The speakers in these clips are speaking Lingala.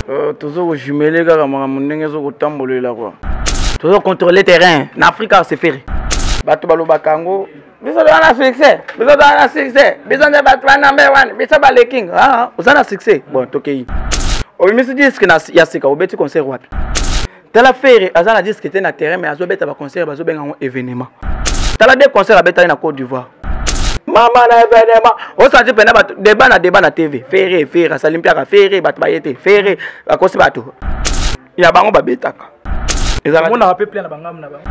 Euh, tozo kojumele kaka makambo ndenge ezo kotambolela kua tozo contrôle terrain na afrika seferi bato balobaka yango biso toza na succès biso toza na succès biso nde bato ba number one biso baleking ah, ah, oza na succès bon tokei obimisi diske ya sika obeti concert wapi tala ferre aza na disque te na terrain mais azobeta baconcert bazobenga yango événement tala de concert abetaki na côte d'ivoire mama na événement osanti mpena bato débat na débat na tv ferre ferre asali mpiaka ferre bato baye te ferre bakosi bato ya bango babetaka ezalamonaka mpe plein na bangamu na bango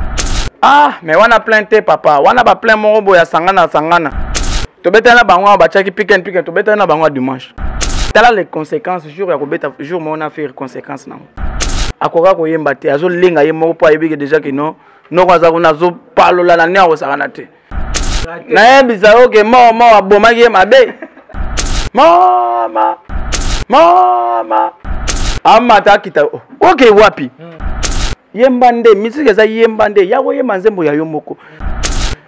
ah mais wana plein te papa wana baplein moko boye asangana asangana tobetali na bango awa batiaki piken piken tobetali na bango ya dimanche tala les conséquences jour ya kobeta jour moko na ferre conséquence nango akoka koyemba te azolenga ye moko mpo ayebi ke deja kino noko aza kuna azopalola na nini akosakana te nayebisa yo ke moo moo abomaki ye mabe mama mama amata akita oh, oke wapi hmm. yemba nde misiki eza yemba nde ya koyemba nzembo ya yo moko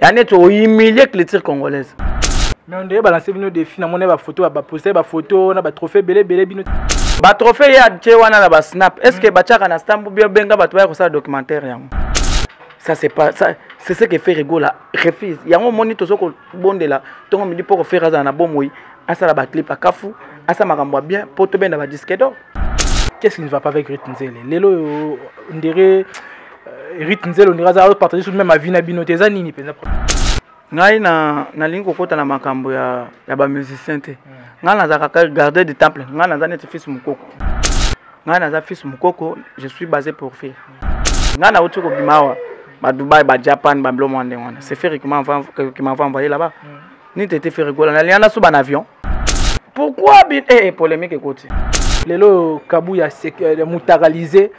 ya neti ohumilie culture congolaise mais ondeye balanse bino defi namona ye bafoto baposte bafoto na batrophée ebele ebele bino batrophée ye atie wana na basnap est ce que batiaka na stambo bia benga bato baya kosala documentaire yango ça c'est pas ça c'est ce que Ferre Gola refuse yango moni tozo ko bondela tongo midi poko Ferre azala na bomoi asala ba clip akafu asa makambo bien po to benda ba disque d'or qu'est-ce qui ne va pas avec Ruth Nzele lelo ndere Rite Nzelo ndika za partager sur même avis na bino te eza nini penza ngai na nalingi kokota na makambo ya ya ba musiciens te hmm. ngai naza kaka garder du temple ngai naza neti fils mukoko ngai naza fils mukoko je suis basé pour faire ngai nauti kobima awa ba dubai ba japan ba biloko mwa ndenge wana c'est ferre qui m'a envoyé là-bas hmm. ni tete ferre gola na liana suba na avion pourquoi bin eh, eh polemique ekoti lelo kabu ya euh, mutakalise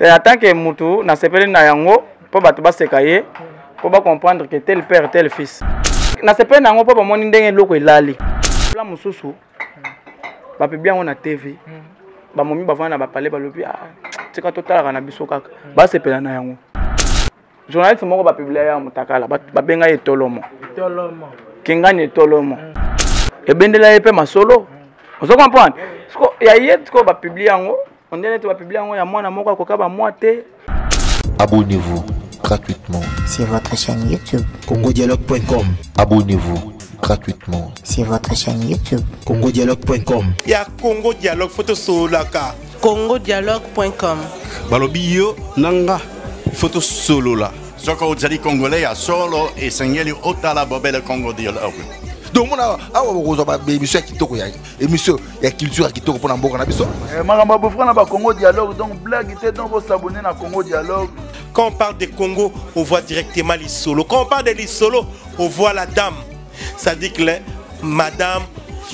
en tant que mutu nasepeli na yango mpo bato baseka ye mpo bacomprendre que tel père tel fils nasepeli na yango mpo bamoni ndenge eloko elali la mosusu bapibi yango na tv hmm. bamomi bavanda na bapale balobi ah, tika totalaka na biso kaka hmm. basepela na yango journaliste moko bapiblia ya motakala babenga ye tolomo kingani etolomo mm. ebendela ye mpe masolo mm. ozo comprendre siko ya ye sikoyo bapiblie yango ondele neti bapiblie yango ya mwana moko akoka bamwa te abonnez-vous gratuitement sur votre chaîne youtube congodialogue.com abonnez-vous gratuitement sur votre chaîne youtube congodialogue.com ya congo dialogue fotosololaka congodialogue.com balobi yo na nga ifo tosolola soki ozali congolais ya solo esengeli otala bobele congo dialogue donc mona awa bokozwa baemission ya kitoko ya émission ya culture ya kitoko mpona mboka na biso eh, makambo ya bofra na bacongo dialogue donc blague te donc bosabone na congo dialogue quand on parle de congo on voit directement lisolo quand on parle de lisolo on voit la dame sadik le madame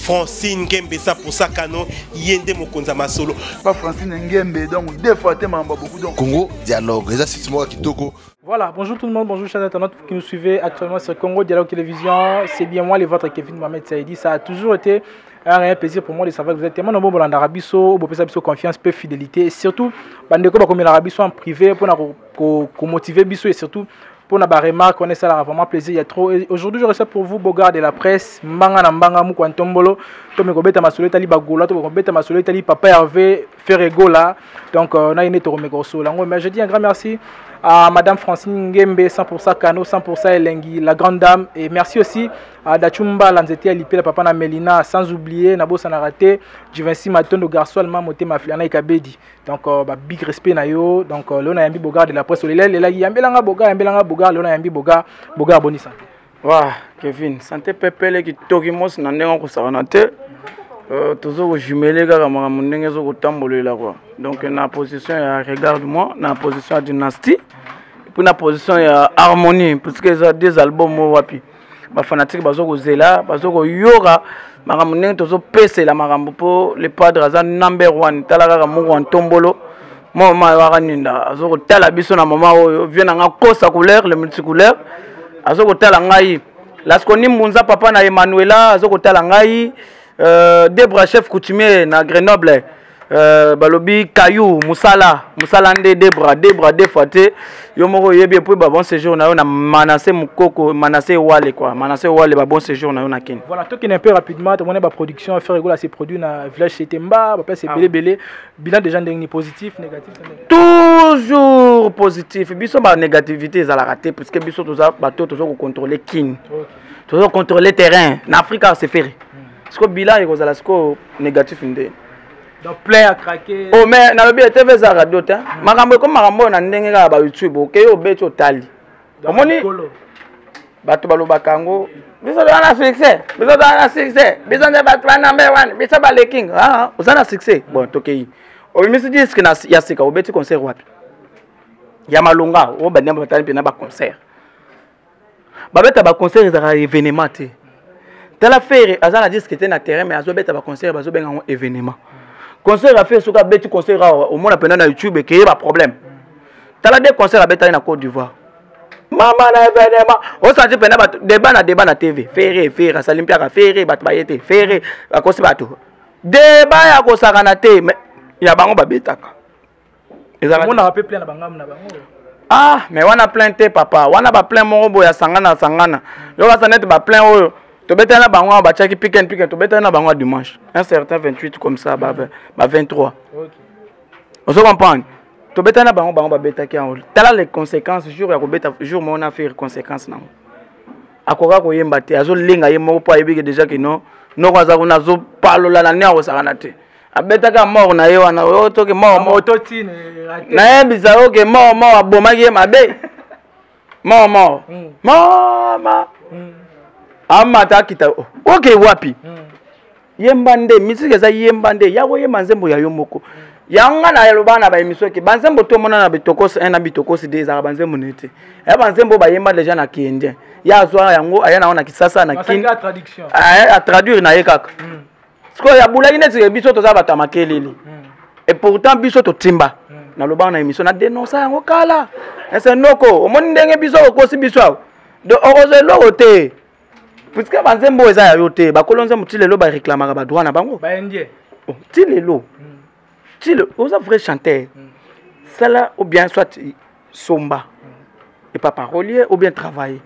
francine ngembe eza posakano ye nde mokonzi ya masolo pa francine ngembe donc deux fois te mambo beaucoup donc congo dialogue eza site moko kitoko Voilà, bonjour tout le monde, bonjour chers internautes qui nous suivez actuellement sur Congo Dialogue Télévision. C'est bien moi, le votre Kevin Mohamed Saïdi. Ça a toujours été un réel plaisir pour moi de savoir que vous êtes tellement nombreux dans l'Arabie Saoudite, vous avez confiance, peu fidélité. Et surtout, bandeko bakomi l'Arabie en privé pour motiver biso et surtout Pour na ba remarque on est ça la vraiment plaisir ya trop Et aujourd'hui je reçois pour vous Bogard de la presse mbanga na mbanga mukwa ntombolo to me kobeta masolo etali bagola to kobeta masolo etali papa Hervé Ferre Gola donc euh, na ine to me kosola ngo mais je dis un grand merci à madame Francine Ngembe 100% Kano 100% Elengi la grande dame et merci aussi à Dachumba Lanzete Alipe la papa na Melina sans oublier na bossa na raté Juvency Matondo Garçon Alma Motema Flana Ikabedi donc euh, ba big respect na yo donc euh, leo nayambi bogar de la presse olelelelaki yambelanga bogar yambelanga bogar leo nayambi bogar bogar boni sante wa kevin sante pepele kitoki mosi na ndenge okosakana te euh, toza kojumele kaka makambo ndenge ezo kotambolela kua donc na position ya regarde moi na position ya dynastie mpo na position ya harmonie puisque eza deux album oyo wapi bafanatike bazo kozela bazo koyoka makambo ndenge tozopesela makambo mpo le padre aza number one tala kaka moko ya ntombolo mwa mama yo akaninda azo kotala biso na mama oyo vie na nga kosa couleur le multicouleur azo kotala ngai laskoni mbunza papa na emmanuela azo kotala ngai euh, debra chef coutumier na grenoble Euh, balobi kayu musala musala nde debra debra de fois te yo moko oyebi epui ba bon séjour na yo na manase mokoko manase wale quoi manase wale ba bon séjour na yo na kin voilà tokende un peu rapidement tomoni ba production affaire egola se produit na village cité mba bapesa ebele ah. ebele bilan déjà ndenge ni positif négatif toujours positif biso ba négativité ezalaka te puisque biso toza bato toza kocontrôle kin toza kocontrôle terrain na afrika se ferre sikoyo bilan ekozala sikoyo négatif nde donc plein ya craquer oh mais nalobi ya tv eza radio te hmm. makambo ekomi makambo oyo na ndenge kaka ba youtube okei obeti otali omoni bato balobaka yango biso toza na succès biso toza na succès biso nde bato ba number one biso baleking ah, ah, oza na succès bon tokei obimisi diske ya sika obeti concert wapi ya malonga oyo banyama batali mpe na baconcert babeta baconcert ezalaka événement te tala fere aza na disque te na terrain mais azobeta baconcert bazobenga yango événement concert ya fere soki abeti concert awa omona mpena na youtube ekeye baproblème tala de concert abetaki na côte d'ivoire mama na événement osanti mpena bato débat na débat na tv fere fere asali mpiaka fere bato baye te fere akosi bato débat ya kosakana te ya bango babetaka ezalamonaka mpe plein na bangambo na bango ah mais wana plein te papa wana baplein moko boye asangana asangana yokasa neti baplein oyo tobetani na bango batiaki piken piken tobetani na bango ya dimanche un certain 28 comme ça ba, ba 23 ozo comprendre tobetani na bango bango babetaki yango tala les conséquences jour ya kobeta jour moko na faire conséquence nango akoka koyemba te azolenga ye moko mpo ayebiki déjà kino noko aza kuna azopalola na nini akosakana te abetaka mort na ye wana oyo toke mort mort nayebisa yo ke mort mort abomaki ye mabe mort mort hmm. mama hmm. amata akita oh, oke wapi hmm. yemba nde misiki eza yemba nde ya koyemba nzembo ya yo moko yango ngai nayaloba na baemission eke banzembo tomona na bitokosi 1 na bitokosi 2 ezalaka banzembo nini te ya banzembo bayemba deja na kiindien ye azwa yango aya na yango na kisasa na kin atraduire na ye kaka sikoyo abulaki neti ke biso toza bato ya makelele hmm. et pourtant biso totimba hmm. nalobaka na émission nadenonsa yango kala ese noko omoni ndenge biso okosi biso awa do okozwa eloko te puiske banzembo oyo eza ya yo te bakolo nzembo ti lelo bareklamaka badroit na bango oh, ti lelo hmm. ti le oza vrai chanteur mm. sala ou bien soit somba mm. epa parolier ou bien travailler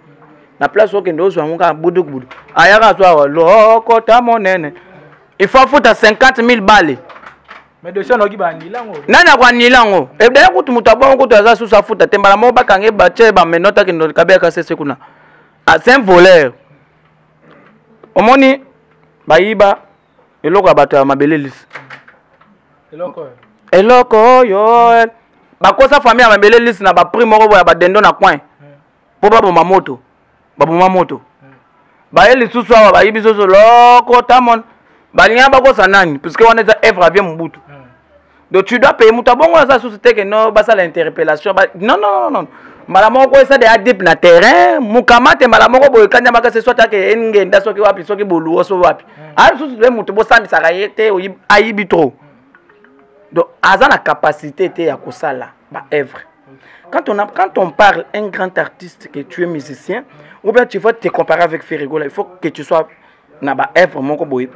na place okende ozwa yango kaka budukubudu ayaka azwa awa lokota monene il faut afuta 50 000 bale nani akoanila yango ebdaya kutu moto abongo kutu aza susu afuta te mbala moko bakange batye bamenote akende kabeyaka sese kuna ah, c'est un voleur omoni bayiba eloko ya bato ya mabele lisi eloko oyo bakosa famille ya mabele lisi na baprix moko boya badendo na coin mpo baboma moto baboma moto baye lisusu awa bayibi soso lokota mon balinga bakosa nani puiske wana eza evre avie mobutu donc tu dois payer moto abongo aza susu te ke no basala interpellation ba... non non non non mbala moko koyesa de adip na terrain mokamate mbala moko boye kanya makasi soki ake engenda soki wapi soki boluo soki wapi mm. ayo susu de moto bosambisaka ye te ayibi trop donc aza na capacité te ya kosala ba œuvre quand on, a, quand on parle un grand artiste que tu es musicien ou bien tu vas te comparer avec Ferrigola il faut que tu sois na ba œuvre moko boye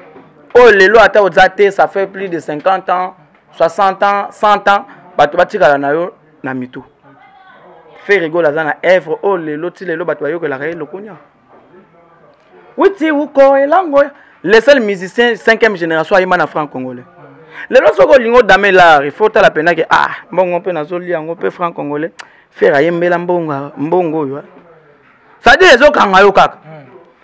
oyo lelo ata oza te ça fait plus de 50 ans 60 ans 100 ans bato batikala na yo na mitu ferigol aza na œuvre oyo lelo ti lelo bato bayokelaka ye lokunia witi uko elango le seul musicien 5e génération ayemba na franc congolais lelo soki olingi odame lar il faut otala mpenza ke ah mbongo mpe nazoli yango mpe franc congolais fere ayembela mbongo mbongo oyo sadire ezokanga yo kaka hmm.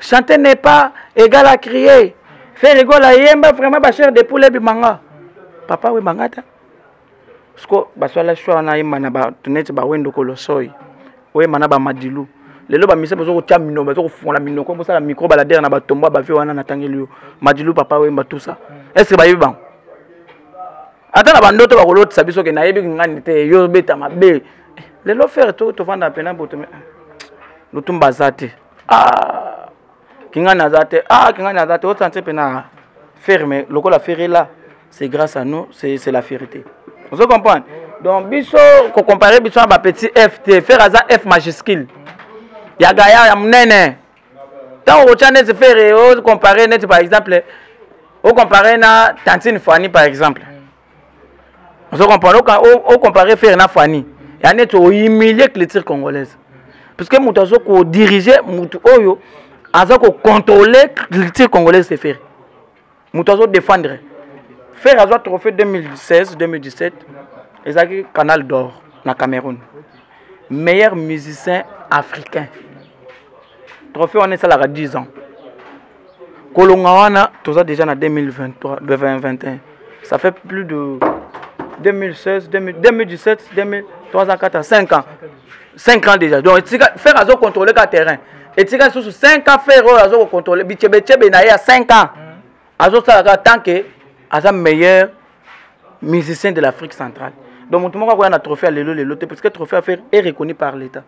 chanter n'est pas égal à crier faire égal à yemba vraiment ba chair de poule bimanga papa we mangata siko basala choix na yemba na ba tunete ba wendo kolosoi oyemba na ba madilu lelo bamisa bozo kotya minoko bazo kofungola minoko bosala micro baladere na batombo ya bavie wana natangeli yo madilu papa oyemba tusa estce bayebi bango ata na bandoto bakolotisa biso ke nayebi ngani te yo obeta mabe eh, lelo fere tofanda mpena boto lutumba aza te ah kingani aza te ah kingani aza te osanse mpe na ferre mais lokola ferre est là c'est grâce à nous c'est la vérité ozo comprendre donc biso kocompare biso na bapetit f te ferre aza f majuscule ya gaya ya monene ntango okotya neti ferre ocompare neti par exemple ocompare na tantine fani par exemple ozo comprendre o comparer faire na Fanny ya neti o humilier culture congolaise parce que moto azo ko diriger moto oyo aza ko contrôler culture congolaise c'est faire moto azo défendre faire azwa trophée 2016 2017 ezalaki canal d'or na Cameroun meilleur musicien africain trophée wana esalaka 10 ans kolonga wana toza déjà na 2023 2021 ça fait plus de 2016 2017 2003 4 à 5 ans 5 ans déjà donc etika faire azo contrôler ka terrain etika lisusu 5 ans faire oyo azo kocontrôle bitshebetshebe na ye ya 5 ans azosala kaka tant que aza meilleur musicien de l'afrique centrale donc moto moko akoya na trophée ya lelo lelo te parce que trophée ya faire est reconnu par l'état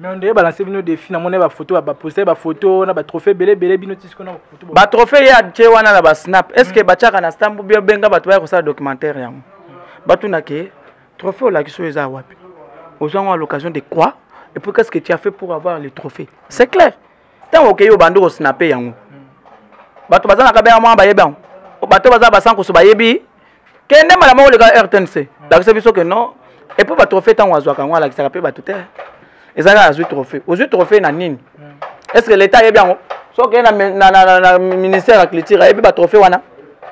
mais on dirait balancer bino défi namoni ba photo ba poster ba photo na ba trophée belé belé bino ti sikoyo na photo ba trophée ya tie wana na ba snap est ce que hmm. batiaka na stambo bio benga bato baya kosala documentaire yango batuna ke trophée olakisi oyo eza wapi ozwa yango à l'occasion de quoi et puis qu'est ce que tu as fait pour avoir le trophée c'est clair ntango okei obandi kosnape yango bato baza na kabea mwa bayebi yango bato baza basankusu bayebi kende mbala moko leka rtnc lakisa biso ke non epuis batrophée ntango azwaka yango alakisaka mpe bato te eza kaka azwi trophée ozwi trophée na nini est ce que l'état ayebi yango soki na, na, na, na, na ministère ya culture ayebi batrophée wana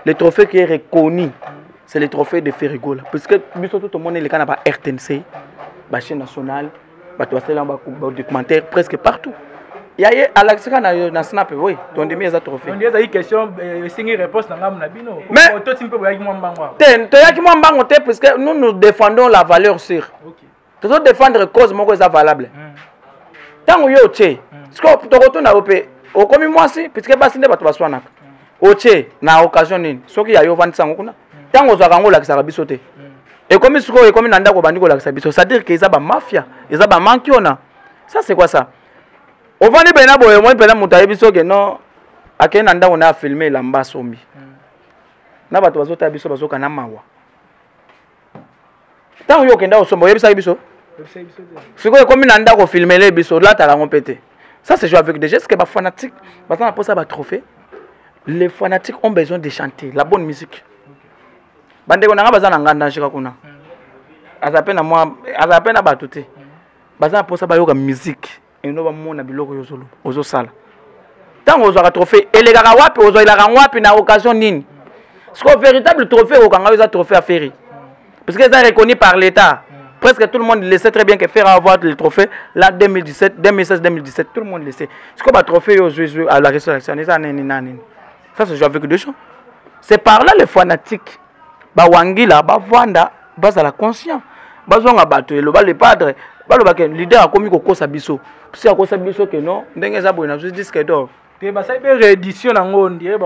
le trophée qui est reconnu c'est le trophée de Ferrigola puisque biso tout omoni eleka na ba RTNC ba chaîne nationale bato basalela ba documentaire presque partout ya ye alakisaka na, na snap oui tondimi eza trophée ezali question euh, esengi réponse na ngambo na bino totimi mpe boyaki mwa mbango te toyaki mwa mbango te puisque nous nous défendons la valeur sûre okay. tozo défendre cause moko eza valable ntango yo otie sikoyo tokotuna yo mpe okomi mwasi puisque basi nde bato baswanaka otie na occasion nini soki ya yo ovandisa yango kuna ntango ozwaka yango olakisaka biso te ekomi sikoyo ekomi na ndako obandi kolakisa biso c'est-à-dire que eza bamafia eza bamankiona ça c'est quoi ça ovandi mpena boye omoni mpena moto ayebi soki no akei na ndako na afilme elamba asombi na bato bazotala biso bazokana mawa ntango yo okenda kosomba oyebisaki biso sikoyo ekomi na ndako filmele biso olataka yango mpe te ça se joue avec des gestes que bafanatique baza na mposa batrophée les fanatiques ont besoin de chanter la bonne musique bandeko na ngai baza na nganda njika kuna aza mpe na mwa aza mpe na bato te baza na mposa bayoka musique eno bamona biloko oyo ozoloba ozosala ntango ozwaka trophée elekaka wapi ozwelaka yango wapi na occasion nini sikoyo véritable trophée okokanga oyo eza trophée ya ferre parce que eza reconnu par l'état presque tout le monde le sait très bien que ferre avoir le trophée la 2017 2016 2017 tout le monde le sait sikoyo batrophée oyo ozwi ezwi à la résurrection eza nini na nini ça se joue avec des gens c'est par là les fanatiques ba wangila ba vanda bazala conscient bazonga bato eloba le padre baloba ke leader akomi kokosa biso si akosa biso ke non ndenge eza boye nazwi disque d'or te basali mpe réédition nango ndire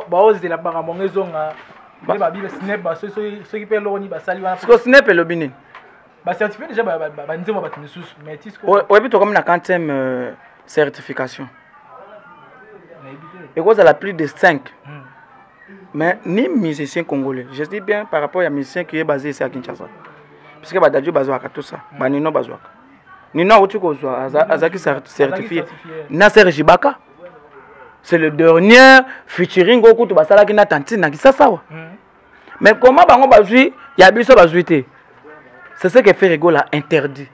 baozela makambo yango ezonga nde babiba snep soki mpe eloko nini basali wana siko snep elobi nini bacertifie deja banzembo ya bato misusu oyebi tokomi na quantième euh, certification ekozala plus de 5 hmm. mais ni musicien congolais je dis bien par rapport ya musicien qui est basé ici à kinshasa puisque badadio bazwaka tout ça hmm. banino bazwaka nino auti kozwa azalaki certifie na serge baka c'est le dernier featuring oyo kutu basalaki na tantine na kisasa awa hmm. mais comment bango bazwi ya biso bazwi te c'est ce que fait rigola interdit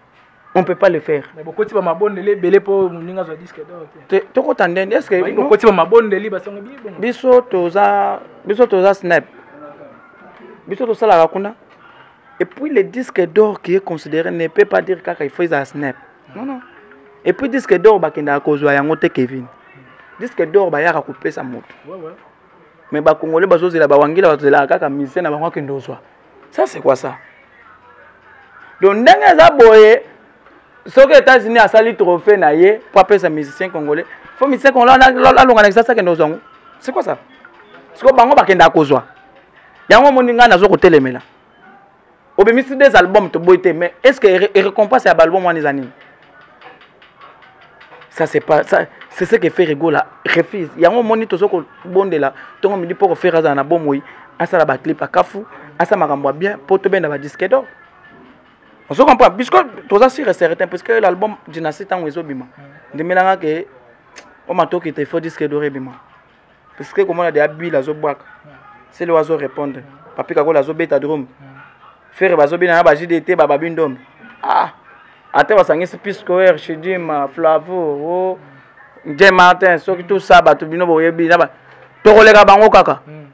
on ne peut pas le faire. Mais beaucoup de mabondeli ebele po muninga zo disque d'or te. Toko tandende est-ce que beaucoup de mabondeli ba songo bi bongo. Biso toza biso toza snap. Biso to sala kuna. Et puis le disque d'or qui est considéré ne peut pas dire kaka il faut ça snap. Non non. Et puis disque d'or bakenda kozwa yango te Kevin. Disque d'or ba yaka kopesa moto. Ouais ouais. mais ba congolais bazo zela ba wangila bazo zela kaka musicien na bango akende ozwa ça c'est quoi ça donc ndenge eza boye soki états-unis asali trophée na ye mpo apesa musicien congolais fo musicien congolais alonga na kisasa akende ozwa yango c'est quoi ça siko bango bakendaka kozwa yango omoni ngai nazo kotelemela obimisi des album toboyi te mais est ce que récompense ya baalbum wana eza nini ça c'est pas ça c'est ce que fait rigola refuse yango omoni tozo kobondela ntongo midi mpo kofere azala na bomoi asala baclip akafu asala makambo ya bien mpo tobenda badisque d'or ozo comprendre puisque toza sur et certain puisque l'album dynastie ntango ezobima mm. ndemelanga ke omatoki te faut disque d'or ebima parce que komona de abile azobwaka sele wazo répondre papi kakola azobeta drome fere bazobina na bajide te bababi ndombe ah ata basangisi piscoer chidima flavo o je martin soki tout ça bato bino boyebi na tokoleka bango kaka hmm.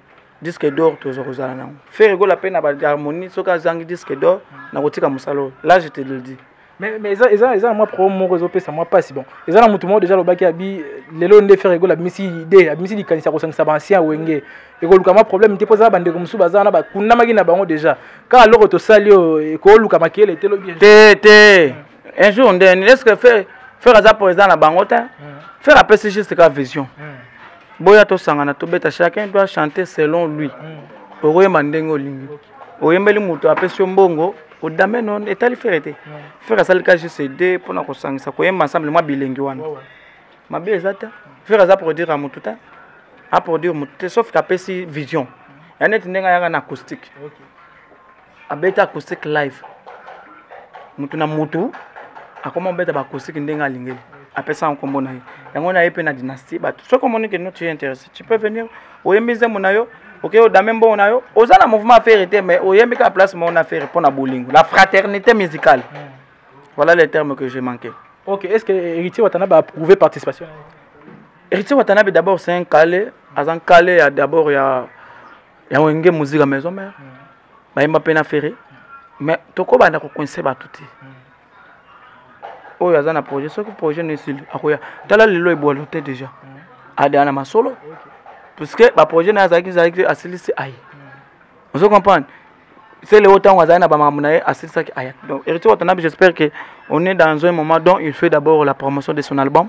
disque d'or toza kozala nango fere gola mpe na baharmonie soki azangi disque d'or hmm. nakotika mosala oyo là je te le dis mais mais eza eza eza moi problème moko ezo pesa moi passe bon eza na mutu moko déjà lobaki abi lelo nde faire egola bimisi idée abimisi likanisa kosangisa ba ancien wenge ekoluka mwa problème te mpo eza bandeko mosusu baza wana bakundamaki na bango déjà kaka loko tosali oyo ekoluka makele te lobi te te un jour nde eske faire faire aza président na bango te faire apesi juste ka vision boya tosangana tobeta chacun doit chanter selon lui okoyemba ndenge olingi oyembeli moto apesi yo mbongo kodame non etali fere te fere asali ka gcd mpo na kosangisa koyemba ensemble mwa bilengi wana mabe eza te fere aza produire ya motu te aproduire motu te sauf ke apesi vision ya neti ndenge ayaka na acoustique abeti acoustique live motu na motu akoma obeta baacoustique ndenge alingeli apesa yango nkombo na ye yango na ye mpe na dynastie bato soki omoni ke no tu es intéressé tu peux venir oyembi nzembo na yo oke odame mbongo na yo oza na mouvement affaire te mais oyembi kaka place moko na affaire mpo na bolingo la fraternité musicale mm. voilà le terme que j'ai manqué ok est ce que héritier watanabe a approuvé participation héritier watanabe d'abord c'est un calé aza un calé ya d'abord ya ya wenge musique ya maison mère mm. bayemba mpe na ferre mais tokobanda kokoinse bato te mm. oyo aza na projet soki projet no esili akoya tala lelo ebwalo te déjà mm. adeya na masolo puisque baprojet na ye azalaki ezalaki asilisi aye mm. ozo comprendre se leo ntango azali na bamakambo na ye asilisaki aya donc héritier watanabe j'espère que on est dans un moment dont il fait d'abord la promotion de son album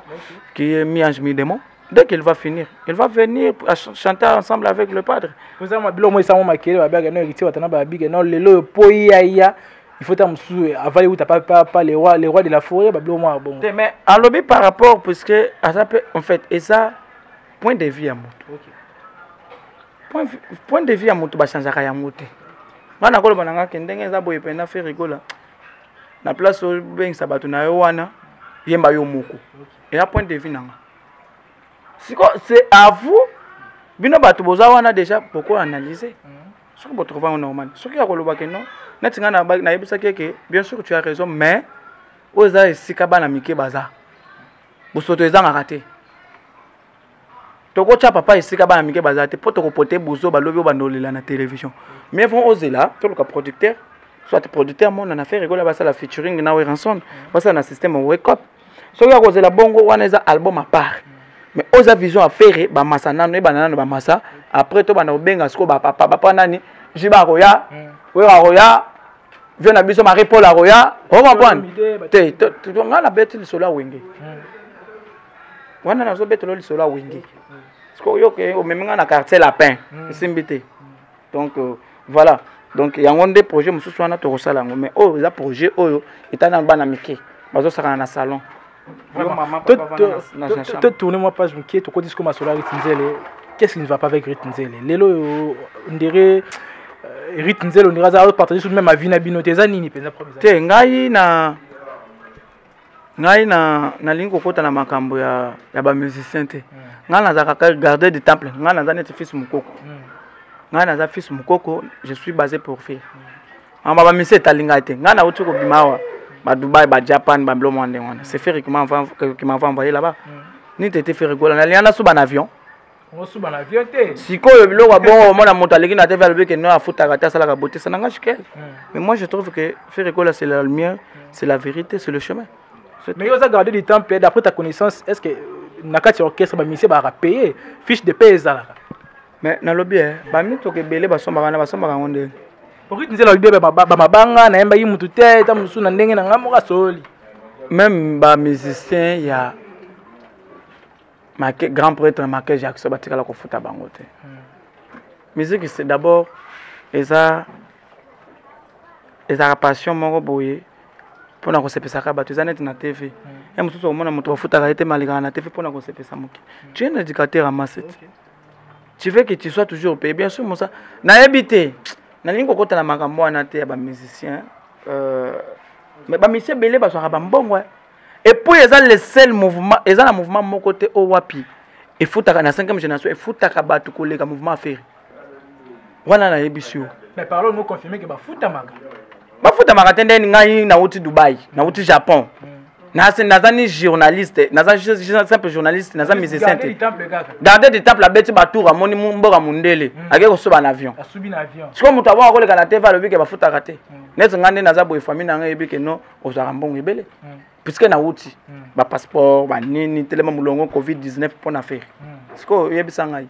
qui est mi ange mi démon dès qu'il va finir il va venir chanter ensemble avec le padre oza mabilo moi esango makele babiyaka no héritier watanabe babike no lelo oyo po yaya il faut ta mususu avali uta pa pa pa le roi le roi de la forêt ba blo mwa bongo mais alobi par rapport parce que aza pe en fait et ça point de vue ya moto okay. point, point de vue ya moto ba changeaka yango te nga nakoloba na nga ke ndenge eza boye mpena fe rigola na place obengisa bato na yo wana yemba yo moko eya point de vue na nga siko c'est à vous bino bato boza wana déjà bokoanalyse mm. soki bo trouve yango normal soki akoloba ke non neti ngai nayebisaki ye ke bien sûr tu as raison mais oyo eza esika bana mike baza bosoto ezangaka te tokotya papa esika bana mike baza te mpo tokopote buzo balobi oyo bandolela na télévision mais vraimen ozela toluka producteur soit producteur mona na affaire ekola basala featuring na weranson basala na système wake up soki akozela bongo wana eza album apart mais oyo eza vision ya fere bamasa nano ebanda nano bamasa après tobanda kobenga sikoyo bapapa bapa nani jiba akoya hmm. oyo akoya vio na biso marie paul akoya okomprendre te ngai nabeti lisolo ya wenge hmm. wana nazobetelo lisolo ya wenge hmm. sikoyo oyoke omemi ngai na quartier lapin esimbi te donc euh, voilà donc yango nde projet mosusu wana tokosala yango mais oyo eza projet oyo etali nano bana mike bazosakana na salon totourne mwa page moke tokoti siko masolo ya rite nzele qu'est ce qui ne va pas avec rite nzele lelo oyo ndere euh, rite nzele ondire aza azopartage sur meme avi na bino te eza nini mpenza problème te ngai na ngai na nalingi kokota na makambo ya, ya bamusicien te mm. ngai nazalaka kaka gardeur du temple ngai naza neti fils mokoko mm. ngai naza fils mokoko je suis basé pour fille mama bamisi etali ngai te ngai nauti kobima awa badubai bajapan bablo mwa ndenge wana c'est feri qui m'envoie envoyé là-bas mm. nini tete feri gola nalia nasuba na avion osuba na vieux te sikoyo biloko abongo omona moto aleki na tv alobi ke no afutaka te asalaka bote ça n'engage qu'elle hmm. mais moi je trouve que faire ekola c'est la lumière hmm. c'est la vérité c'est le chemin mais yo oza garde du temps mpe d'après ta connaissance est ce que euh, na kati ya orchestre bamisie balaka paye fiche de paye ezalaka mais nalobi e bamituka ebele basombaka na basombaka yango ndenge okiti nzela alobi bamabanga nayembaki motu te ta mosusu na ndenge na ngai moko asoli même bamusicien ya Make, grand prêtre Michael Jackson batikala kofuta bango te mm. musique c'est d'abord eza ezalaka passion moko boye mpo na kosepesaka bato eza neti na tv mm. ye mosusu okomona moto bafutaka ye te malekaka na tv mpo na kosepesa moke mm. tu es un éducateur amasete okay. tu veux que tu sois toujours payé bien sûr mosa nayebi te nalingi kokota na makambo wana te ya bamusicien euh, mais bamusicien ebele bazwaka bambongo epuis eza le seul mouvement eza na mouvement moko te oyo wapi efutaka na 5e génération efutaka bato koleka mouvement aferi wana nayebisi yo bafutamaka te nde ngai nauti dubai nauti japon hmm. naza ni journaliste naza simple journaliste naza musicien te garde du temple abeti batour amoni mboka mondele hmm. akei kosuba na avion sikoyo moto abonga koleka na tv alobi ke bafutaka te hmm. neti ngai nde naza boye famille na ngai eyebi ke non ozwaka mbongo ebele mm. puiske nauti mm. bapasseport banini telema molongo covid-19 mpo na fere mm. sikoyo oyebisa ngai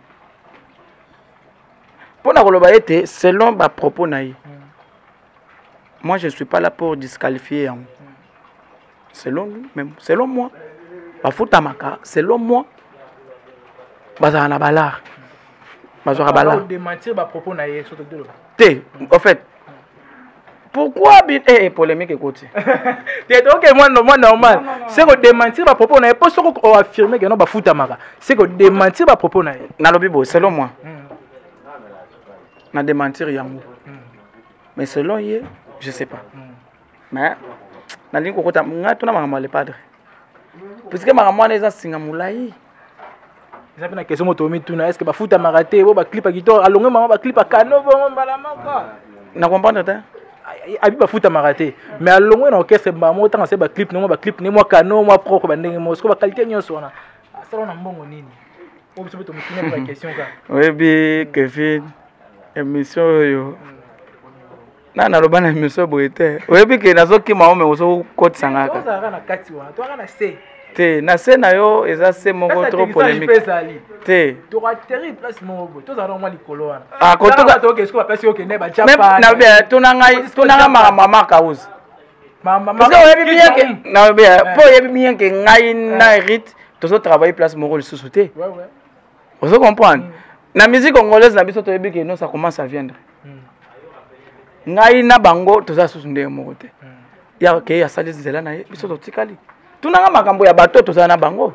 mpo na koloba ete selon bapropos na ye mm. moi je ne suis pas là pour disqualifier yango mm. selon lui mais selon moi bafutamaka selon moi bazala na balare bazwaka balare te en fait pourquoi bi eh, eh polemique ekoti te toke mwa mwa normal c'est ko démentir ba propos na ye po soko o affirmer que non ba futamaka c'est ko démentir ba propos na ye nalobi bo selon moi hmm. na démentir yango hmm. mais selon ye je sais pas hmm. mais nalingi kokota nga tuna makambo ya le padre puisque makambo wana eza nsinga molai eza mpe na question moto omituna estce bafutamaka te bo baclipa kitoko alongue mama baclipa kano bongo mbala moko na comprendre te abi bafutamaka te mais alongue na orchestre mbala moko ntanga se baclip nango baclip ne mwa kano mwa propre bandenge moko soko baqualité nyonso wana asala na mbongo nini oyo biso mpe tomotuna mpe baquestion kaka oyebi kevin émission oyo mm. na naloba na miso boye te oyebi ke nazokima ome ozokotisa nga te na se na yo eza se moko trop polemique te tuna ngai makambo mama kauzi po oyebi bien ke ngai na hérite tozotravaille place moko lisusu te ozo comprendre mm. na musique congolaise na biso toyebi ke non ça commence à viendre mm. ngai na bango toza susu ndenge moko te mm. ya ke asali nzela na ye biso totikali tunanga makambo ya bato toza na bango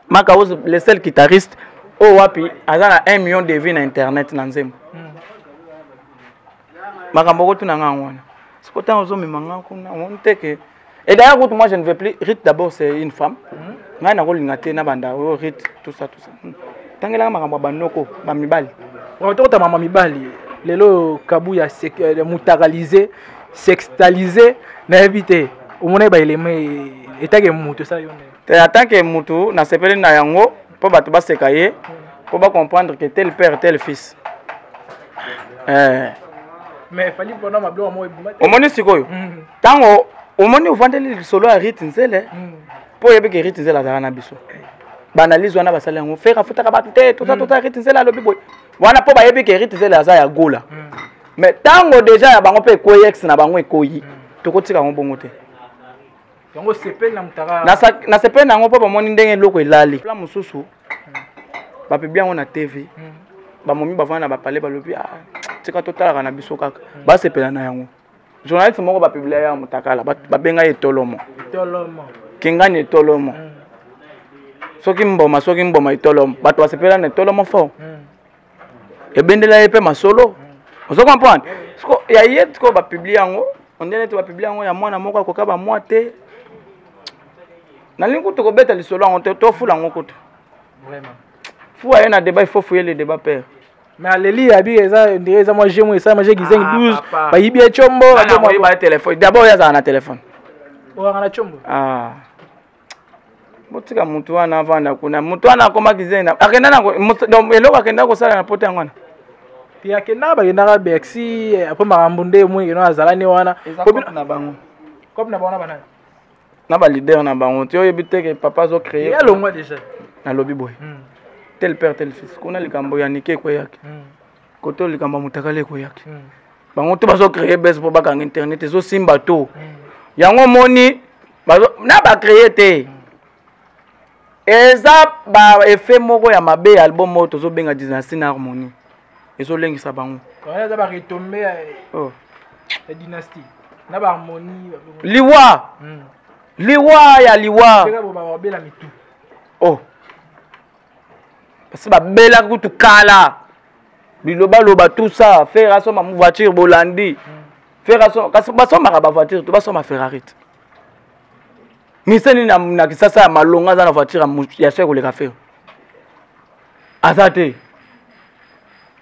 makaos le seul guitariste oyo oh, wapi aza na 1 million de vie na internet na nzembo makambo okotuna ngai yango wana sikoyo ntango ozomema ngai kuna omoni te ke Et d'ailleurs, Ruth, moi je ne veux plus. Ruth d'abord, c'est une femme. Mm-hmm. Ngai na kolinga te na banda, oh, Ruth, tout ça, tout ça. Hmm. Tangelaka makambo ya banoko, ba mibali. Vraiment tokota mama mibali. Lelo kabuya euh, mutakalize, sextalize, nayebi te. Omona ba eleme etake mutu ça yone. Te atake mutu na sepele na yango. mpo bato baseka ye mpo bacomprendre que tel père tel fils eh. omoni sikoyo ntango mm. omoni ovandeli lisolo ya rite nzele mpo mm. oyebeke rite nzele azalaka na biso baanalyse wana basali yango fere afutaka bato te toza mm. toza rite nzele alobi boye wana mpo bayebi ke rite nzele aza ya gola mais ntango deja ya bango mpe ekwei ex na bango ekoyi tokotika yango bongo te yango osepeli na mutaka nasepeli na yango mpo bamoni ndenge eloko elali la mosusu hmm. bapebi yango na tv hmm. bamomi bavanda na bapale balobi ah, tika totalaka na biso kaka hmm. basepela na yango journaliste moko bapiblia ya motakala babenga ye etolomo kingani etolomo soki mboma soki mboma etolomo bato basepela na etolomo fort ebendela ye mpe masolo ozo comprendre siko ya ye sikoyo bapublie yango ondie neti bapublie yango ya mwana moko akoka bamwa te nalingi kutu kobeta lisolo yango te tofula yango kutu fuwa ye na debat il faut fuye le debat père mais aleli ya bika eza ndire eza mwa jemo esalama je gizengi 12 ah, bayibi ye combo telefone dabord oyo azala na telefone oyaka na combo ah. botika motu wana avanda kuna motu wana akomaki zai na akenda na eloko akenda kosala na pota yango wana te akenda bakendaka bercy eh, apres makambo nde moi keno azalani wana na bango cope na bango na banani na balider na bango ti oyebi teke papa azo créer alongwa déjà nalobi boye hmm. tel père tel fils kuna likambo ya nike ekweyaki hmm. kote oyo likambo ya motakala ekoyaki hmm. bango to bazo créer base mpo bakanga internet ezosimba to hmm. yango omoni na bacreye te hmm. eza baeffet moko ya mabe ya album oyo tozobenga dynastie na harmonie ezolengisa bango eza baretombe ya oh. dynastie na baharmonie liwa liwa ya liwa oh basi babelaki kutu kala bilobaloba tout ça fere asomba voiture bolandi fere asomba kasi basombaka bavoiture to basomba ferrari te mise nini na kisasa ya malonga aza na voiture ya chek koleka fere aza te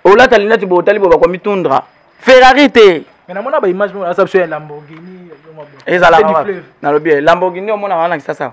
olata lineti bo otali bo bakomitundra ferrari te namona baimage eza biso ya lamborghini ezalaka nalobi lamborghini omonaka wana na kisasa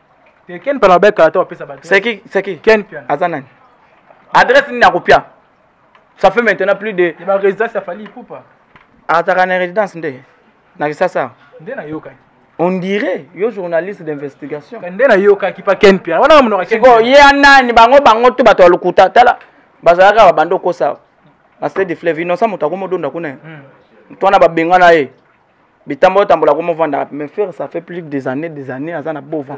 te ken pala ba kala to pesa ba c'est qui c'est qui ken pian aza nani adresse ni na kopia ça fait maintenant plus de ba résidence ya fali poupa ataka na résidence nde na kisasa nde na yoka on dirait yo journaliste d'investigation nde na yoka ki pa ken pian wana monoko ken ko ye nani bango bango tout bato lokuta tala bazalaka ba bando kosa na stade de fleuve innocent moto akomodonda kuna hmm. twana babengana ye bitamba otambola ko movandaka pembeni ferre ça fait plus des années des années aza na bova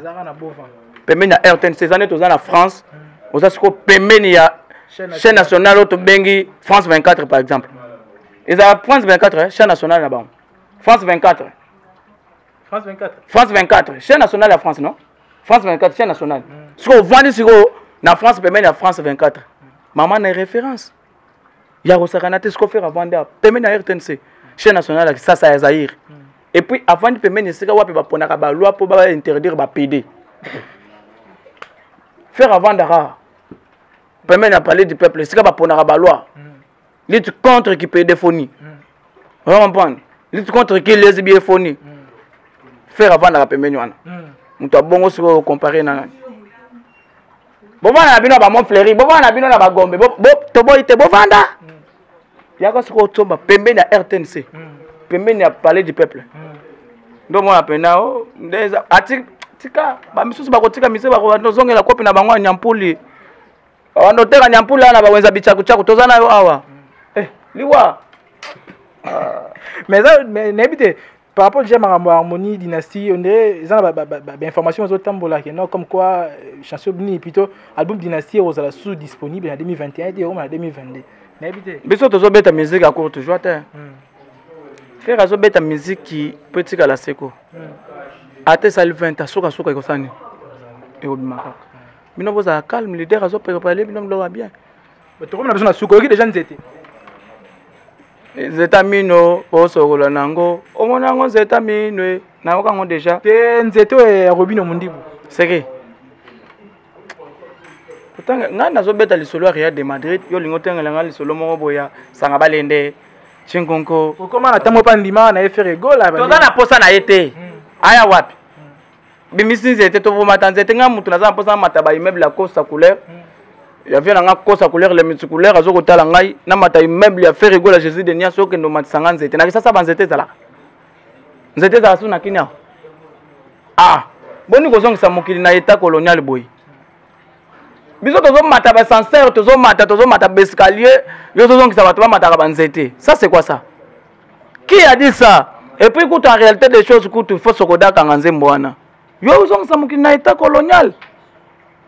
pembeni ya rtn ces années toza na france hmm. oza sikoyo pembeni ya chaîne nationale oyo tobengi france 24 par exemple ezala france 24 eh, chaîne nationale na bango france 24 france 24 france 24 chaîne nationale ya france non france 24 chaîne nationale hmm. sikoyo ovandi sikoyo na france pembeni ya france 24 mama na référence ya kosakana te siko fere avandi awa pembeni ya rtnc chaine nationale ya kisasa ya zaire hmm. et puis avandi pembeni esika wapi baponaka baloi mpo bainterdire bapede fere avandaka pembeni ya palais du peuple esika baponaka baloi hmm. lutte contre kipedephonie hmm. ozo comprendre lutte contre ki lesbiephonie fere avandaka pembeni wana moto abongo sikoyo compare na nani bovanda na bino na bamont fleuri bovanda na bino na bagombe toboyi te bovanda yaka soki otsomba pembeni ya rtnc pembeni ya palais du peuple nde omona mpena o nde ati tika bamisusu bakotika mise bakobanda ozongela kopi na bango ya nyampuli babanda oteka nyampuli awa na bawenza bicakucaku toza na yo awa eh, liwa ah. mais nayebi te par rapport déjà makambo ya harmonie dynastie on dirait eza na bainformation bazotambola ke non comme quoi euh, chanson bini plutôt album dynastie ekozala sous disponible na 2021 te ekoma na 2022 nayebi te biso tozobeta musique ya courte joie te hmm. fere azobeta miziki mpo etikala seko hmm. ata esali 20 asukasuka ekosani ekobima kaka bino bozala calme leader azoprepare bino biloko ya bien tokomi na biso na suka oyoki deja nzete nzeta mino osokola na yango omona yango nzeta mino e, nayoka yango deja te nzete oyo ya robino mondibu seke kotanga ngai nazobeta lisolo ya real de madrid yo olingi otangela ngai lisolo moko boya sanga balende cinkonko okoma na ntango epa ndima na efere gola toza na mposa na ye te hmm. aya wapi bimisi nzete tovomata nzete ngai motu naza na mposa namata baimmeuble ya costa couleur hmm. ya vie na ngai costa couleur le miti couleur azo kotala ngai namata immeuble ya fer egola jésus de nias okende omatisa ngai nzete na kisasa banzete ezalaka nzete ezala su na kini awa ah boni kozongisa mokili na etat colonial boye biso tozomata basanseur tozomata tozomata baescalier yo tozongisa bato bamataka banzete ça c'est quoi ça qui a dit ça et puis kutu en réalité des choses kutu il faut sokodakanga nzembo wana yo ozongisa mokili na état colonial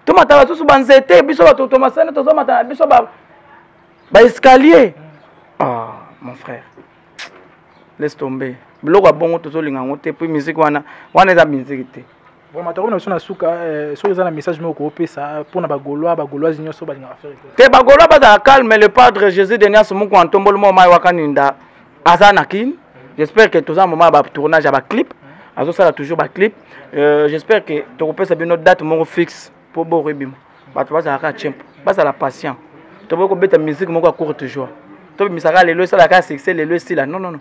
tomataka susu banzete biso bato tomasani tozomata na biso baescalier ba ah, mon frère laisse tomber biloko ya bongo tozolinga yango te puis miziki wana wana eza miziki te vraiment tokomi na biso na suka eh, soki eza na message moko koopesa mpo na bagolois bagoloise nyonso balingaka affaire te bagolois bazala calme le padre jésus de nias moko antomboli mwa mai wakaninda aza na kin j'espère que toza moment ya batournage ya baclip azosala toujours baclip euh, j'espère que tokopesa bino date moko fixe mpo boko ebima bato bazalaka tiempo bazala patient toboki kobeta musique moko ya courte joie tobimisaka lelo esalaka succès lelo esila non non non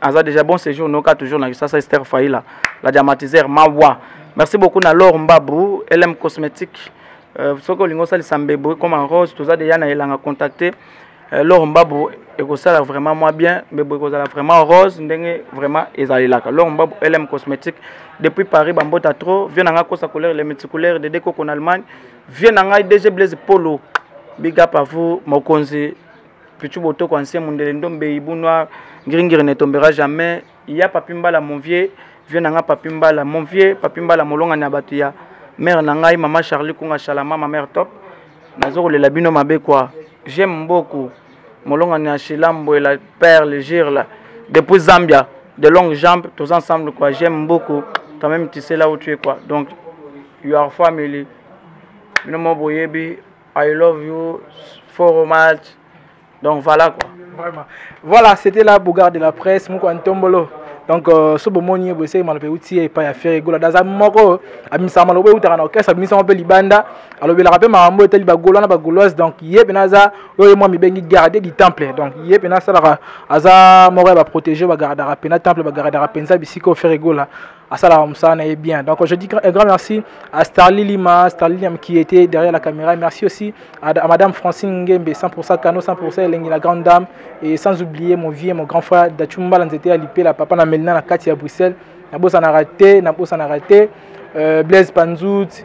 aza déjà bon séjour noka toujours na kisasa ester faila la diamatiseur mawa merci beaucoup na lor mbabu lm cosmétique euh, soki olingi osalisa mbebo comme en rose toza déjà na elanga contacte euh, lor mbabu ekosala vraiment mwa bien mbebo ekozala vraiment rose ndenge vraiment ezalelaka lor mbabu lm cosmétique depuis paris bambota trop vie na ngai kosa couleur le multicouleur de dekoko na allemagne vie na ngai dg blaise polo big up à vous mokonzi Pichu Botoko, ancien Mundele Ndombe, Hibou Noir, Ngringiri ne tombera jamais. Il y a Papi Mbala, mon vieux, vieux nanga Papi Mbala, mon vieux, Papi Mbala, molonga na batu ya mère na ngai, maman Charlie Kunga Shalama, ma mère top. Nazo kolela bino mabe quoi. J'aime beaucoup. Molonga na Shilambo et la perle gire là. Depuis Zambia, de longues jambes, tous ensemble quoi. J'aime beaucoup. Quand même tu sais là où tu es quoi. Donc you are family. Bino mo boyebi I love you for much. Donc voilà quoi. Vraiment. Voilà, c'était la Bougar de la presse, Mouko Antombolo. donc euh, so bomoni ye boyeseki maloba euti ye epai ya fere gola daza moko abimisaka maloba eutaka na orchestre abimisaka mpe libanda alobelaka mpe makambo etali bagolois na bagoloise donc ye mpena aza oyo ye mwa mibengi garde du temple donc ye mpena asalaka aza moko ya baprotege bagardaka mpena temple bagardaka mpenza bisika oyo fere gola asalaka mosala na ye bien donc je dis un grand merci à starli lima starli lima qui était derrière la caméra merci aussi à, à madame francine ngembe 100% cano 100% elengi la grande dame et sans oublier mon vieux mon grand frère dachumbala nzete ya lipela papa na melina na kati ya bruxelles nabosanaka te nabosanaka te euh, blaise panzut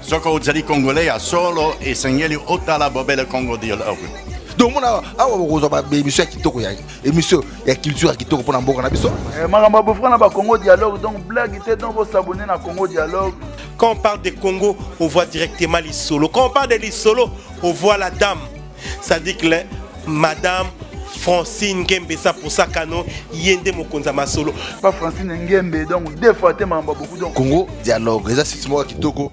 Soki ozali Congolais ya solo, esengeli otala bobele Congo Dialogue. donc mona awa bokozwa baemission ya kitoko ya émission ya culture ya kitoko mpo na mboka na biso eh, makambo ya bofra na bacongo dialogue donc blague te donc bosabone na congo dialogue quand on parle de congo on voit directement lisolo quand on parle de lisolo on voit la dame ça dit que le, madame francine ngembe sa posa kano ye nde mokonzi ya masolo pa francine ngembe donc deux fois te makambo beaucoup donc congo dialogue eza site moko kitoko